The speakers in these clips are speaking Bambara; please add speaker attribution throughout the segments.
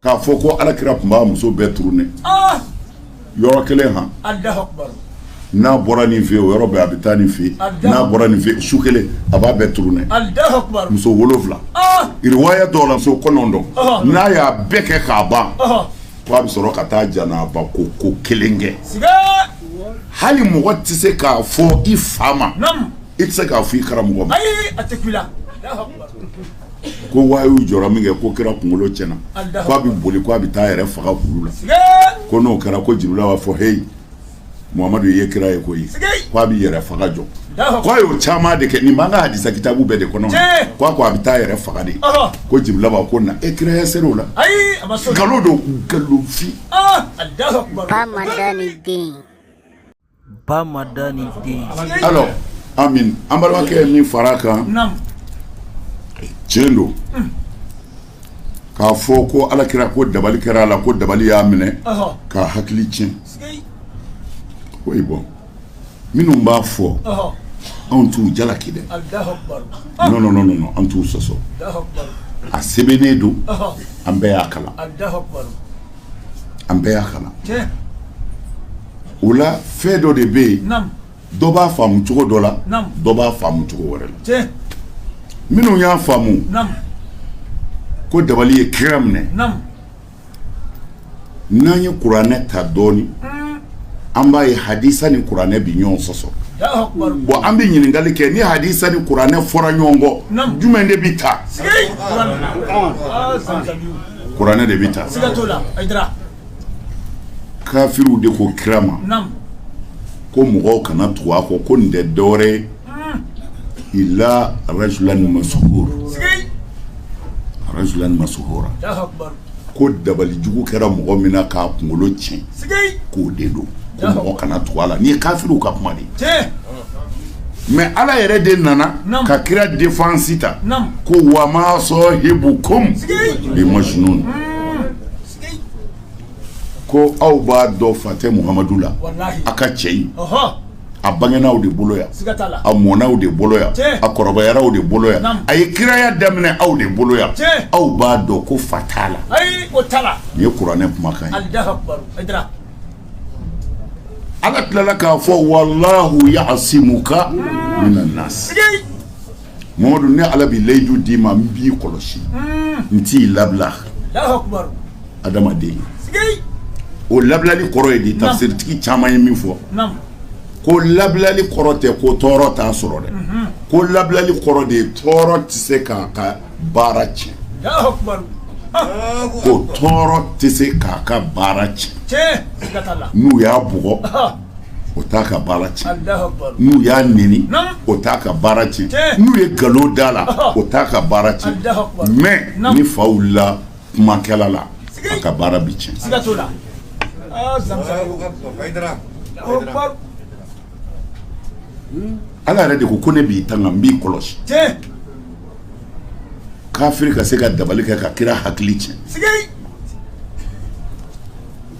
Speaker 1: k'a fɔ ko ala kira tun b'a muso bɛɛ turunɛ ah! yɔrɔ kelen han n'a bɔra nin fɛ o yɔrɔ bɛɛ a bɛ taa nin fɛ n'a bɔra nin fɛ su kelen a b'a bɛɛ turunɛ muso wolonwula ah! iriwaya dɔw la muso kɔnɔntɔn ah! n'a y'a bɛɛ kɛ k'a ban ko a bɛ sɔrɔ ka taa janaba ko ko kelen kɛ hali mɔgɔ tɛ se k'a fɔ i fa ma i tɛ se k'a fɔ i karamɔgɔ ma ko wahayu jɔ min kɛ ko kira kunkolo tiɲɛna k'a bɛ boli k' a bɛ taa yɛrɛ faga la ko n'o kɛra ko jibirila b'a fɔ heyi muhamadu ye kira ye ko k'a bɛ yɛrɛ faga jɔ k'a y'o caman de kɛ nin b'an ka hadisa kitabu bɛɛ de kɔnɔ k'a ko a bɛ taa yɛrɛ faga de ko jibirila b'a ko na e kiraya se o la nkalon don nkalonfin Alors Ami an balimakɛ ye min fara a kan tiɲɛ don k'a fɔ ko ala kira ko dabali kɛra a la ko dabali y'a minɛ k'a hakili tiɲɛ koyi bɔn minnu b'a fɔ anw t'u jalaki dɛ nɔn an t'u sɔsɔ a sɛbɛnnen don an bɛɛ y'a kalan an bɛɛ y'a kalan o la fɛn dɔ de bɛ yen dɔ b'a faamu cogo dɔ la dɔ b'a faamu cogo wɛrɛ la minnu y'a faamu ko dabali ye kira minɛ n'an ye kuranɛ ta dɔɔnin mm. an b'a ye hadisa ni kuranɛ bi ɲɔgɔn sɔsɔ bɔn an bɛ ɲininkali kɛ ni hadisa ni kuranɛ fɔra ɲɔgɔn kɔ jumɛn de bɛ ta kuranɛ de bɛ ta kafiriw de ko kira ma ko mɔgɔw kana tugu a kɔ ko nin tɛ dɔwɛrɛ ye hmm. ila rajulan masuhur rajulan masuhura ko dabali jugu kɛra mɔgɔ min na k'a kunkolo tiɲɛ k'o de don ko mɔgɔ kana tugu a la nin ye kafiriw ka kuma de ye mɛ ala yɛrɛ de nana ka kira defansi ta ko wa ma sɔhibukum bi majinun ko aw b'a dɔn fa tɛ muhamadu la a ka cɛ ye a bangena aw de bolo yan a mɔna aw de bolo yan a kɔrɔbayara aw de bolo yan a ye kiraya daminɛ aw de bolo yan aw b'a dɔn ko fa t'a la nin ye kuranɛ kumakan ye Ala tilala k'a fɔ walahu yasimuka mina nasi mamadu ne ala bɛ layidu d'i ma n b'i kɔlɔsi n t'i labila adamaden o labilali kɔrɔ ye di tafusiritigi caman ye min fɔ ko labilali kɔrɔ tɛ ko tɔɔrɔ t'a sɔrɔ dɛ ko labilali kɔrɔ de ye tɔɔrɔ tɛ se ka baara tiɲɛ ko tɔɔrɔ tɛ se k'a ka baara tiɲɛ n'u y'a bugɔ o t'a ka baara tiɲɛ n'u y'a neni o t'a ka baara tiɲɛ n'u ye nkalon d'a la o t'a ka baara tiɲɛ mais ni fa wulila kumakɛla la a ka baara bi tiɲɛ ala yɛrɛ de ko ko ne b'i tanga n b'i kɔlɔsi K'a ka se ka dabali kɛ ka kira hakili cɛn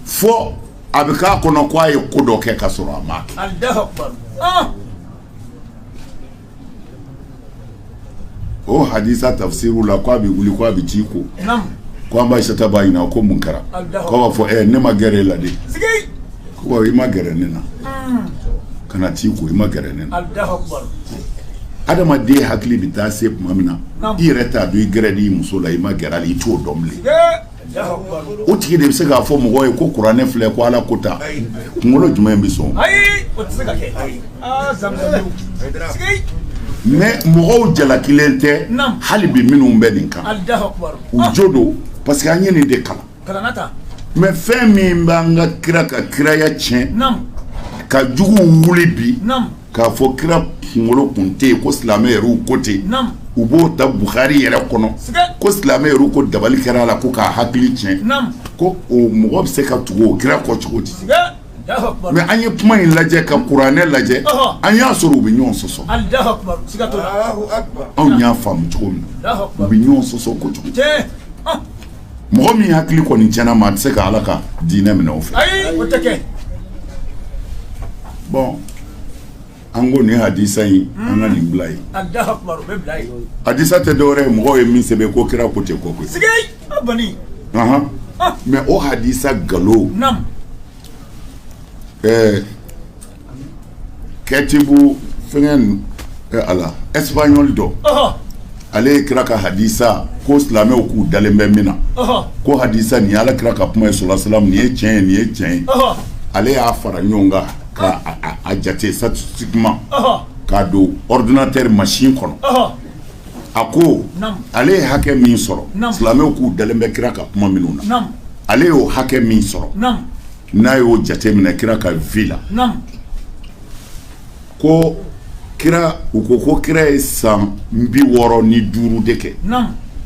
Speaker 1: fɔ a bɛ k'a kɔnɔ k' a ye ko dɔ kɛ ka sɔrɔ a ma o hadisa tafisiru la k' a bɛ wuli k' a bɛ t'i ko k' an ba isata b'a ɲininka ko mun kɛra k' a b'a fɔ ne ma gɛrɛ e la de Ko i ma gɛrɛ ne na kana t'i ko i ma gɛrɛ ne na adamaden hakili bɛ taa se tuma min na i yɛrɛ t'a dɔn i gɛrɛl'i muso la i ma gɛrɛ a la i t'o dɔn bilen o tigi de bɛ se k'a fɔ mɔgɔ ye ko kuranɛ filɛ ko ala ko tan kunkolo jumɛn in bɛ sɔn o ma mɔgɔw jalakilen tɛ hali bi minnu bɛ nin kan u jo don parce que an ye nin de kalan kalanata mɛ fɛn min b'an ka kira ka kiraya tiɲɛ ka juguw wuli bi k'a fɔ kira kunkolo kun tɛ yen ko silamɛ yɛrɛw ko ten u b'o ta buhari yɛrɛ kɔnɔ ko silamɛ yɛrɛw ko dabali kɛra a la ko k'a hakili tiɲɛ ko o mɔgɔ bɛ se ka tugu o kira kɔ cogo di mɛ an ye kuma in lajɛ ka kuranɛ lajɛ an y'a sɔrɔ u bɛ ɲɔgɔn sɔsɔ anw y'a faamu cogo min u bɛ ɲɔgɔn sɔsɔ ko cogo mɔgɔ min hakili kɔni cɛnna maa tɛ se ka ala ka diinɛ minɛ o fɛ bɔn an ko nin hadisa in an ka nin bila yen hadisa tɛ dɔwɛrɛ ye mɔgɔw ye min sɛbɛn ko kira ko ten ko koyi mɛ o hadisa nkalon ɛɛ Kɛ ci fɛn a la espagnol dɔ ale ye kira ka hadisa ko silamɛw k'u dalen bɛ min na ko hadisa nin ala kira ka kuma ye sulala nin ye cɛn ye nin ye cɛn ye ale y'a fara ɲɔgɔn kan ka jate sa k'a don ordinateur masin kɔnɔ a ko ale ye hakɛ min sɔrɔ silamɛw k'u dalen bɛ kira ka kuma minnu na ale y'o hakɛ min sɔrɔ n'a y'o jate minɛ kira ka vie la ko kira u ko ko kira ye san bi wɔɔrɔ ni duuru de kɛ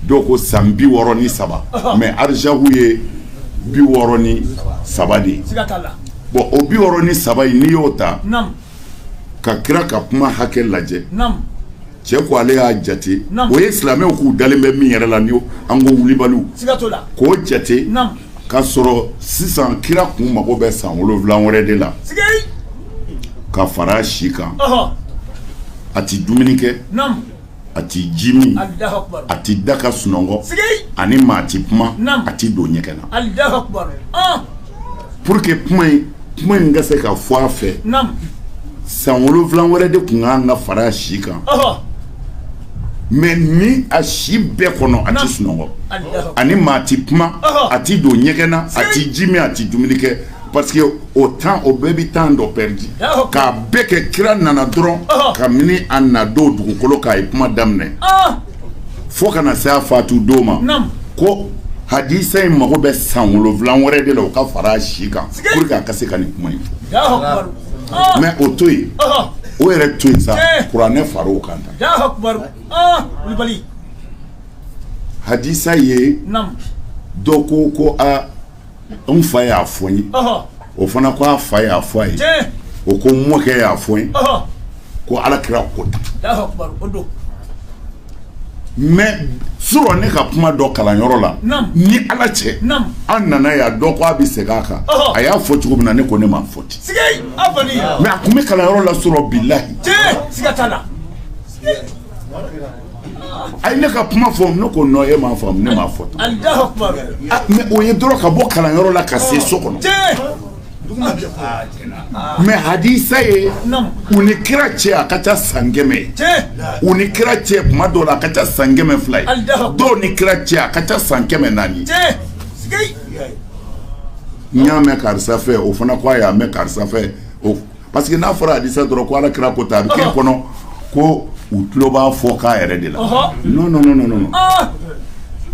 Speaker 1: dɔw ko san bi wɔɔrɔ ni saba mɛ arajihu ye bi wɔɔrɔ ni saba de ye bɔn o bi wɔɔrɔ ni saba in n'i y'o ta ka kira ka kuma hakɛ lajɛ cɛ ko ale y'a jate o ye silamɛw k'u dalen bɛ min yɛrɛ la ni an ko wulibaliw k'o jate ka sɔrɔ sisan kira kun mago bɛ san wolonwula wɛrɛ de la ka fara a si kan a tɛ dumuni kɛ a tɛ ji min a tɛ da ka sunɔgɔ a ni maa tɛ kuma a tɛ don ɲɛgɛn na Pour que kuma in kuma in ka se ka fɔ a fɛ. Naamu. San wolonwula wɛrɛ de kun ka kan ka fara a si kan. Ɔhɔ! Mais ni a si bɛɛ kɔnɔ a tɛ sunɔgɔ. Alahu. A ni maa tɛ kuma. Ɔhɔ! A tɛ don ɲɛgɛn na, a tɛ ji min, a tɛ dumuni kɛ. Parce que o temps o bɛɛ bɛ temps dɔ perdre. Yaho! K'a bɛ kɛ kira nana dɔrɔn. Ɔhɔ! Kabini a na don dugukolo kan a ye kuma daminɛ. Ɔɔ! fo ka na se a faatu don ma, naamu, ko hadisa in mago bɛ san wolonwula wɛrɛ de la o ka fara a si kan pour que a ka se ka nin kuma in fɔ, Alahu akibaru, ɔɔ, mais o to yen ɔhɔ, o yɛrɛ to yen sa Eh. kuranɛ fara o kan tan Alahu akibaru, ɔɔ, Kulibali, hadisa ye naamu, dɔ ko ko a N fa y'a fɔ n ye, ɔhɔ, o fana ko a fa y'a fɔ a ye, tiɲɛ, o ko n mɔkɛ y'a fɔ n ye, ɔhɔ, ko alakira ko tan, Alahu akbar o don, mais surɔ ne ka kuma dɔ kalanyɔrɔ la, naamu, ni Ala cɛ, naamu, an nana yan dɔ ko a bɛ segin a kan, ɔhɔ, a y'a fɔ cogo min na ne ko ne m'a fɔ ten, sikeyi, a kɔni, mais a kun bɛ kalanyɔrɔ la surɔ bilahi, tiɲɛ, siga t'a la. a ye ne ka kuma fɔ ne ko non e m'a faamu ne m'a fɔ ah, mais o ye dɔrɔn ka bɔ kalanyɔrɔ la ka se so kɔnɔ mais hadisa ye u ni kira cɛ a ka ca san kɛmɛ ye u ni kira cɛ kuma dɔw la a ka ca san kɛmɛ fila ye dɔw ni kira cɛ a ka ca san kɛmɛ naani n y'a mɛn karisa fɛ o fana ko a y'a mɛn karisa fɛ o Parce que n'a fɔra Hadisa dɔrɔn ko Alakira ko tan, ɔhɔ, a bɛ k'e kɔnɔ ko u tulo b'a fɔ k'a yɛrɛ de la, ɔhɔ, non, non, non, non, ɔɔ,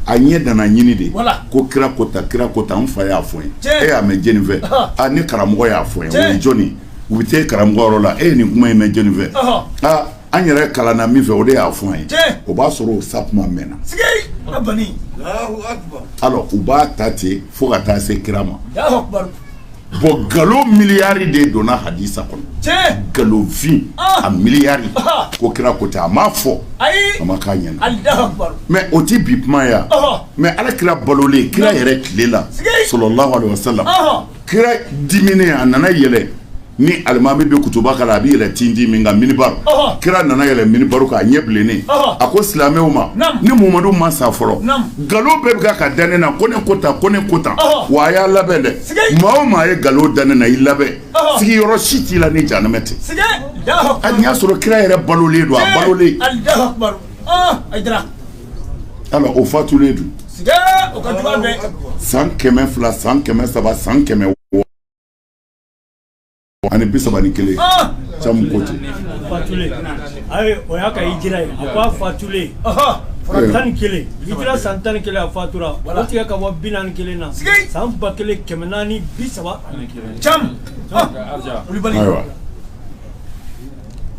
Speaker 1: a ɲɛ dana ɲini de, voilà, ko kira ko tan, kira ko tan, n fa y'a fɔ n ye, tiɲɛ, e y'a mɛn jɔni fɛ? Ɔhɔ, a ne karamɔgɔ y'a fɔ n ye, tiɲɛ, o ye jɔni ye? U bɛ taa e karamɔgɔ yɔrɔ la, e ye nin kuma in mɛn jɔni fɛ? Ɔhɔ, a an yɛrɛ kalanna min fɛ, o de y'a fɔ an ye, tiɲɛ, o b'a sɔrɔ o sa kuma mɛnna, sigee, a banni, Alahu akibaru, alors u b'a ta ten fo ka taa se kira ma. Alahu akibaru. Bon nkalon miliyari de donna hadisa kɔnɔ nkalonfin a miliyari ko kira ko a ma fɔ a ma k'a ɲɛ mais o tɛ bi kuma ye mais ala kira balolen kira yɛrɛ tile la salalahu alayhi wasalam kira dimina a nana yɛlɛ ni alimami bɛ kutuba kalan a bɛ yɛlɛ tintin min kan minibari kira nana yɛlɛ minibari kan a ɲɛ bilennen a ko silamɛw ma ne mumadu ma sa fɔlɔ nkalon bɛɛ bɛ ka da ne na ko ne ko tan ko ne ko tan wa a y'a labɛn dɛ maa o maa ye nkalon da ne na i labɛn sigiyɔrɔ si t'i la ni jahanama tɛ hali n'i y'a sɔrɔ kira yɛrɛ balolen don a balolen wala o fatulen don san kɛmɛ fila san kɛmɛ saba san kɛmɛ ani bi saba ni kelen camu ko ten fatulen ayi o y'a ka hijira ye a ko a fatulen fara tan ni kelen hijira san tan ni kelen a fatura o tigɛ ka bɔ bi naani kelen na san ba kelen kɛmɛ naani bi saba camu ayiwa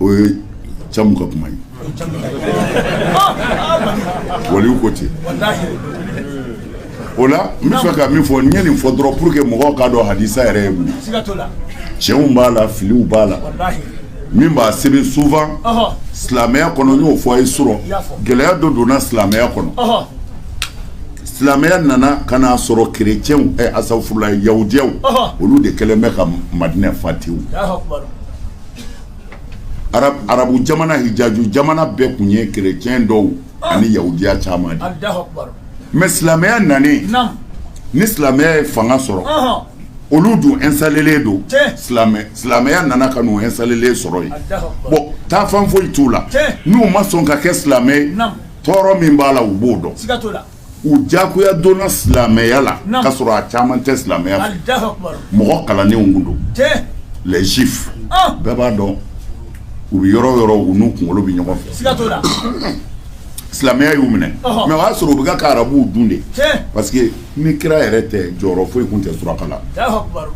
Speaker 1: o ye camu ka kuma ye waliw ko ten o la n bɛ fɛ ka min fɔ n ye nin fɔ dɔrɔn pour que mɔgɔw k'a dɔn hadisa yɛrɛ ye mun ye tiɲɛw b'a la filiw b'a la min b'a sebe souvent silamɛya kɔnɔ n y'o fɔ aw ye surɔ gɛlɛya dɔ donna silamɛya kɔnɔ silamɛya nana ka n'a sɔrɔ kerecɛnw ɛ asafurulayi yahudiyaw olu de kɛlen bɛ ka madinɛ fa tewu arabu jamana hijaju jamana bɛɛ tun ye kerecɛn dɔw ani yahudiya caman ye mais silamɛya nalen ni silamɛya ye fanga sɔrɔ olu dun installélen don silamɛya nana ka n'u installélen sɔrɔ yen bon taa fan foyi t'u la n'u ma sɔn ka kɛ silamɛ tɔɔrɔ min b'a la u b'o dɔn u diyagoya donna silamɛya la Naamu k'a sɔrɔ a caman tɛ silamɛya fɛ Alahu akibaru. mɔgɔ kalannenw kun don Tiɲɛ. les juifs an bɛɛ b'a dɔn u bɛ yɔrɔ o yɔrɔ u n'u kunkolo bɛ ɲɔgɔn fɛ Siga t'o la. silamɛya y'u minɛ Ɔhɔ. mais o y'a sɔrɔ u bɛ ka ka arabuw dun dɛ Tiɲɛ. parce que ni kira yɛrɛ tɛ jɔyɔrɔ foyi kun tɛ suraka la Alahu akibaru.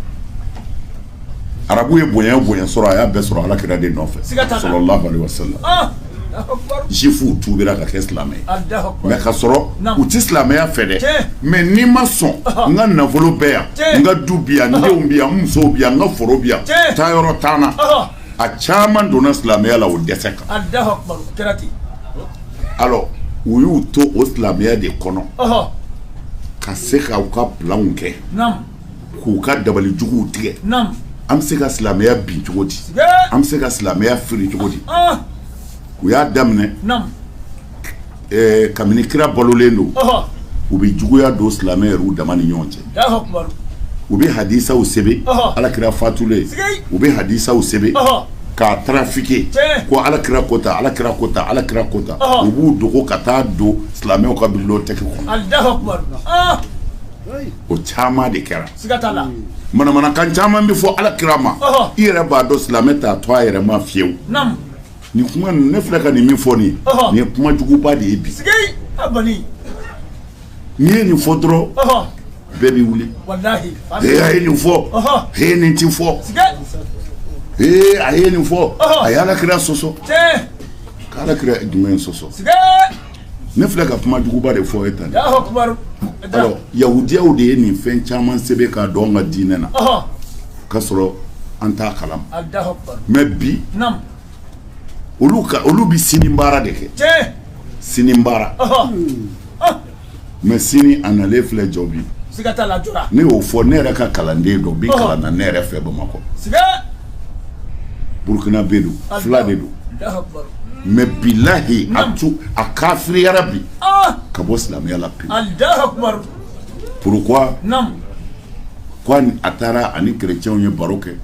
Speaker 1: arabu ye bonya bonya sɔrɔ a y'a bɛɛ sɔrɔ ala kira de nɔfɛ jifuw tubira ka kɛ silamɛ ye k'a sɔrɔ u tɛ silamɛya fɛ dɛ mais n'i ma sɔn n ka nafolo bɛ yan n ka du bi yan n denw bi yan n musow bi yan n ka foro bi yan taa yɔrɔ t'an na a caman donna silamɛya la o dɛsɛ kan alors u y'u to o silamɛya de kɔnɔ ka se ka u ka planw kɛ k'u ka dabali juguw tigɛ an bɛ se ka silamɛya bin cogo di an bɛ se ka silamɛya fili cogo di u y'a daminɛ kabini kira balolen don u bɛ juguya don silamɛw dama ni ɲɔgɔn cɛ u bɛ hadisaw sɛbɛn ala kira fatulen u bɛ hadisaw sɛbɛn k'a trafiquer ko ala kira ko tan ala kira ko tan ala kira ko tan u b'u dogo ka taa don silamɛw ka bibliothèque kɔnɔ o caman de kɛra manamanakan caman bɛ fɔ ala kira ma i yɛrɛ b'a dɔn silamɛ t'a to a yɛrɛ ma fiyewu nin kuma ne filɛ ka nin min fɔ nin nin ye kuma juguba de ye bi n'i ye nin fɔ dɔrɔn bɛɛ bɛ wuli a ye nin fɔ he ye nin ti fɔ ee a ye nin fɔ a ye ala kira sɔsɔ k'ala kira jumɛn sɔsɔ Ne filɛ ka kuma juguba de fɔ et alors yahudiyaw de ye nin fɛn caman sɛbɛn k'a don an ka diinɛ na ka sɔrɔ an t'a kalama mɛ bi olu bɛ sini baara de kɛ sini baara mɛ sini a nalen filɛ jɔ bi ne y'o fɔ ne yɛrɛ ka kalanden dɔ bi kalan na ne yɛrɛ fɛ bamakɔ burukinabɛ don fila de don mɛ bilahi a to a kafiriyara bi ah! ka bɔ silamɛya la pewu pourquoi ko a taara ani kerecɛnw ye baro kɛ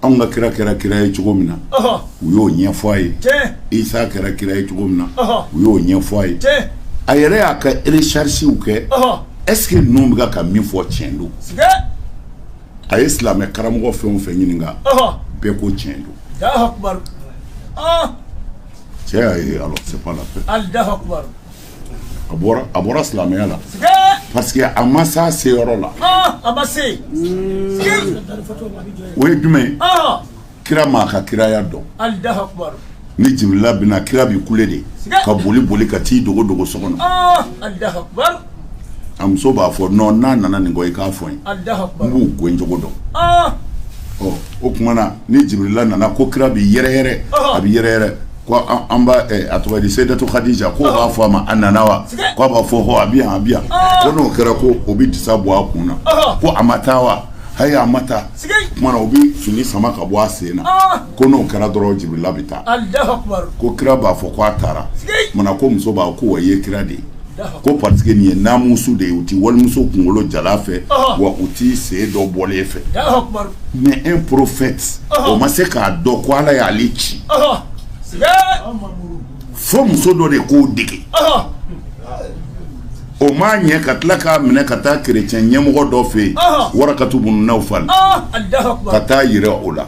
Speaker 1: Anw ka kira kɛra kira ye cogo min na u y'o ɲɛ fɔ a ye Isa kɛra kira ye cogo min na u y'o ɲɛ fɔ a ye a yɛrɛ y'a ka recherchew kɛ est-ce que ninnu bɛ ka min fɔ tiɲɛ don a ye silamɛ karamɔgɔ fɛn o fɛn ɲininka bɛɛ ko tiɲɛ don cɛ y'a ye ala a bɔra a bɔra silamɛya la parce que a ma s'a seyɔrɔ la ah, a ma se o ye jumɛn ye ah. kira m'a ka kiraya dɔn ni jibirila bɛ na kira bi kule de ka boli boli ka t'i dogo dogo so kɔnɔ ah, a muso b'a fɔ non n'a nana nin kɔ i k'a fɔ n ye n b'u gɛncogo dɔn ɔ o tuma na ni jibirila nana ko kira bi yɛrɛyɛrɛ a bi yɛrɛyɛrɛ ko an ba a tɔgɔ di Seyidatu Kadija k'o b'a fɔ a ma a nana wa k'a b'a fɔ hɔ a bɛ yan a bɛ yan ko n'o kɛra ko o bɛ disa bɔ a kun na ko a ma taa wa hayi a ma taa kumana o bɛ fini sama ka bɔ a sen na ko n'o kɛra dɔrɔn Jibirila bɛ taa ko kira b'a fɔ ko a taara kumana ko musoba ko wa i ye kira de ye ko parce que nin ye namusu de ye u tɛ walimuso kunkolo jalan fɛ wa u tɛ sen dɔ bɔlen fɛ mɛ un prophète o ma se k'a dɔn ko ala y'ale ci fo muso dɔ de k'o dege o ma ɲɛ ka tila k'a minɛ ka taa kerecɛn ɲɛmɔgɔ dɔ fɛ yen Warakatu bunu Nawfal ka t'a jira o la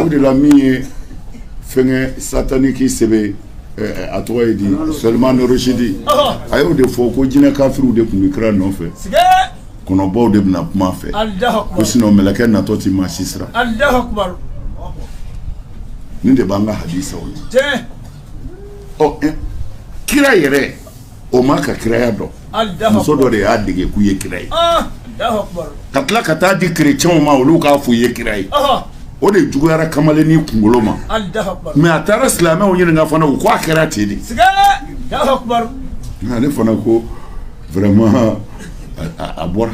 Speaker 1: O de la min ye fɛn sataniki sɛbɛn a tɔgɔ ye di Salman Rushdie a y'o de fɔ ko jinɛ kafiriw de tun bɛ kira nɔfɛ kɔnɔbaw de bɛ na kuma a fɛ ko sinɔ mɛlɛkɛ natɔ tɛ maa si siran nin de b'an ka hasa ye ɔ kira yɛrɛ o ma ka kiraya dɔn muso dɔ de y'a dege k'i ye kira ye ka tila ka taa di kerecɛnw ma olu k'a fɔ i ye kira ye o de juguyara kamalen nin kunkolo ma mais a taara silamɛw ɲininka fana u ko a kɛra ten de ale fana ko vraiment a bɔra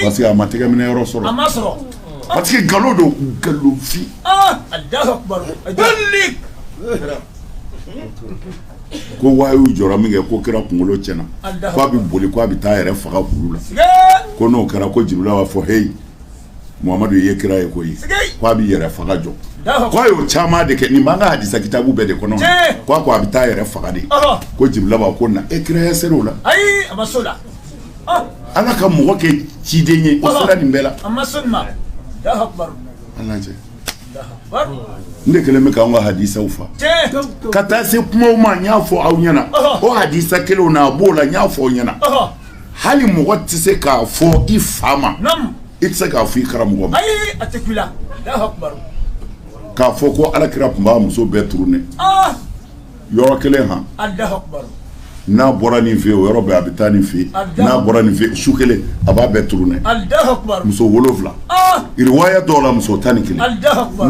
Speaker 1: parce que a ma tɛgɛ minɛ yɔrɔ sɔrɔ parce que nkalon don nkalonfin ko wahayu jɔ min kɛ ko kira kunkolo tiɲɛna k'a bɛ boli k' a bɛ taa yɛrɛ faga la ko n'o kɛra ko jibirila b'a fɔ heyi mamadu i ye kira ye ko k'a bɛ yɛrɛ faga jɔ k'a y'o caman de kɛ nin b'an ka hadisa kitabu bɛɛ de kɔnɔ ko a bɛ taa yɛrɛ faga de ko jibirila b'a ko na e kiraya se o la ala ka mɔgɔ kɛ ciden ye o sera nin bɛɛ la nin de kɛlen bɛ k'an ka hadisaw fa ka taa se kumaw ma n y'a fɔ aw ɲɛna o hadisa kelenw na a b'o la n y'a fɔ aw ɲɛna hali mɔgɔ tɛ se k'a fɔ i fa ma i tɛ se k'a fɔ i karamɔgɔ ma k'a fɔ ko ala kira tun b'a muso bɛɛ tourner yɔrɔ kelen han n'a bɔra nin fɛ o yɔrɔ bɛɛ a bɛ taa nin fɛ n'a bɔra nin fɛ su kelen a b'a bɛɛ tourner muso wolonwula riwaya dɔw la muso tan ni kelen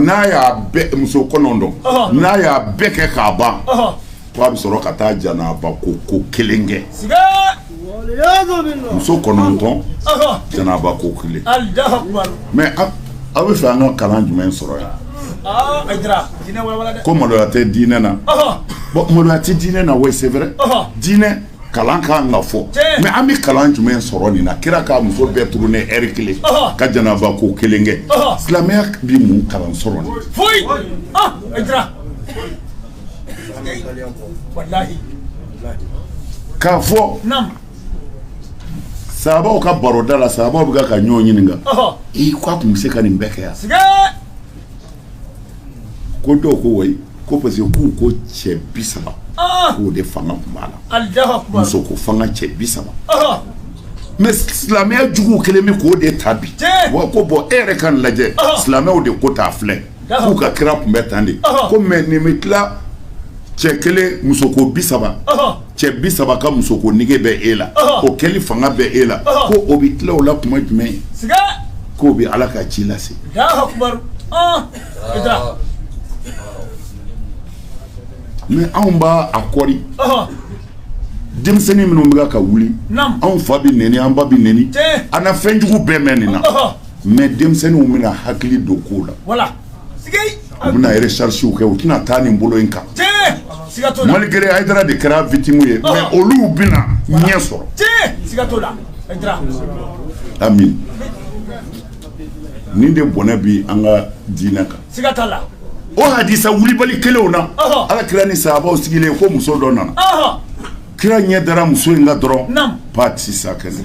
Speaker 1: n'a y'a muso kɔnɔntɔn n'a y'a bɛɛ kɛ k'a ban k' a bɛ sɔrɔ ka taa janaba ko ko kelen kɛ muso kɔnɔntɔn janaba ko kelen mais aw bɛ fɛ an ka kalan jumɛn sɔrɔ yan ah, ko maloya tɛ diinɛ na bon maloya tɛ diinɛ na wa c'est vrai diinɛ kalan ka kan ka fɔ mais an bɛ kalan jumɛn sɔrɔ nin na kira k'a muso bɛɛ tourner heure kelen ka janaba ko kelen kɛ silamɛya bɛ mun kalan sɔrɔ nin K'a fɔ saabaw ka baroda la saabaw bɛ ka ɲɔgɔn ɲininka i k'a tun bɛ se ka nin bɛɛ kɛ yan ko dɔw ko wa ko parce que k'u ko cɛ bi saba k'o de fanga tun b'a la musoko fanga cɛ bi saba mais silamɛya jugu kɛlen bɛ k'o de ta bi wa ko bon e yɛrɛ k'a lajɛ silamɛw de ko t'a filɛ k'u ka kira tun bɛ tan de ko mais nin bɛ tila cɛ kelen musoko bi saba cɛ bi saba ka musoko nege bɛ e la o kɛli fanga bɛ e la ko o bɛ tila o la tuma jumɛn ye k'o bɛ ala ka ci lase mais anw b'a a kɔri denmisɛnnin minnu bɛ ka wuli anw fa bɛ nɛni an ba bɛ nɛni an na fɛnjugu bɛɛ mɛn nin na mais denmisɛnninw bɛna hakili don kow la, voila, sikeyi, u bɛna recherches kɛ u tɛna taa nin bolo in kan, tiɲɛ, siga t'o la, malgré Hayidara de kɛra victime ye, ɔhɔ, mais olu bɛna ɲɛ sɔrɔ, tiɲɛ, siga t'o la, Hayidara, Ami, nin de bɔnɛ bɛ an ka diinɛ kan, siga t'a la, o hadisa wulibali kelenw na, ɔhɔ, Ala kira ni sahabaw sigilen ko muso dɔ nana, ɔhɔ. Kira ɲɛ dara muso in la dɔrɔn ba tɛ sa kɛnɛ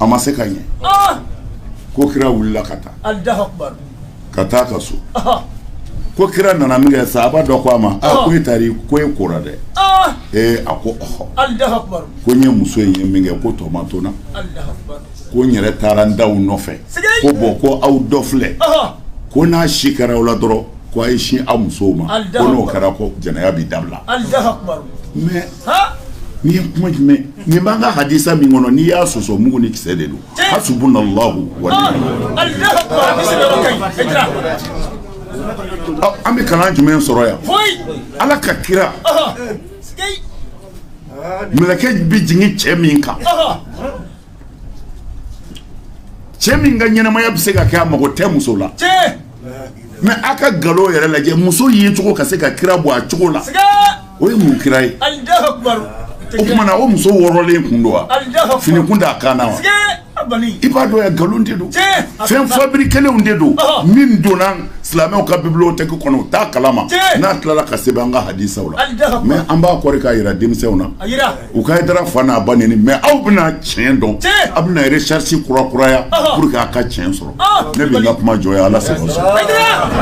Speaker 1: a ma se ka ɲɛ ko kira wulila ka taa ka taa a ka so ko kira nana min kɛ sahabaw dɔ ko a ma ko e taara ko e ko dɛ ee a ko ɔɔ ko n ye muso in ye min kɛ ko tɔ ma to n na ko n yɛrɛ taara n ta nɔfɛ ko bon ko aw dɔ filɛ ko n'a si kɛra aw la dɔrɔn Ko a ye sin a musow ma, Alahu akibaru, ko n'o kɛra ko jɛnɛya bɛ dabila, Alahu akibaru, mais han, nin ye kuma jumɛn nin b'an ka hadisa min kɔnɔ n'i y'a sɔsɔ mugu ni kisɛ de don, tiɲɛ, hasubunallahu wa han, ni'mal wakiil Alahu akibaru, hadisi bɛ yɔrɔ ka ɲi, Hayidara. Ɔ, an bɛ kalan jumɛn sɔrɔ yan Foyi, Ala ka kira ɔhɔ, sikei, mɛlɛkɛ bɛ jigin cɛ min kan ɔhɔ, cɛ min ka ɲɛnamaya bɛ se ka kɛ a mago tɛ muso la mais a ka nkalon yɛrɛ lajɛ muso yecogo ka se ka kira bɔ a cogo la o ye mun kira ye o tuma na o muso wɔrɔlen kun don wa fini kun t'a kan wa i b'a dɔn nkalon de don fɛn fabriquélenw de don min donna silamɛw ka bibliothèque kɔnɔ u taa kalama n'a tilala k'a sɛbɛn an ka hadisaw la mais an b'a kɔrɔ k'a jira denmisɛnw na U ka da fa n'a ba nin mɛ aw bɛna tiɲɛ dɔn aw bɛna sarisi kura kuraya a ka tiɲɛ sɔrɔ ne bɛ kuma jɔ ala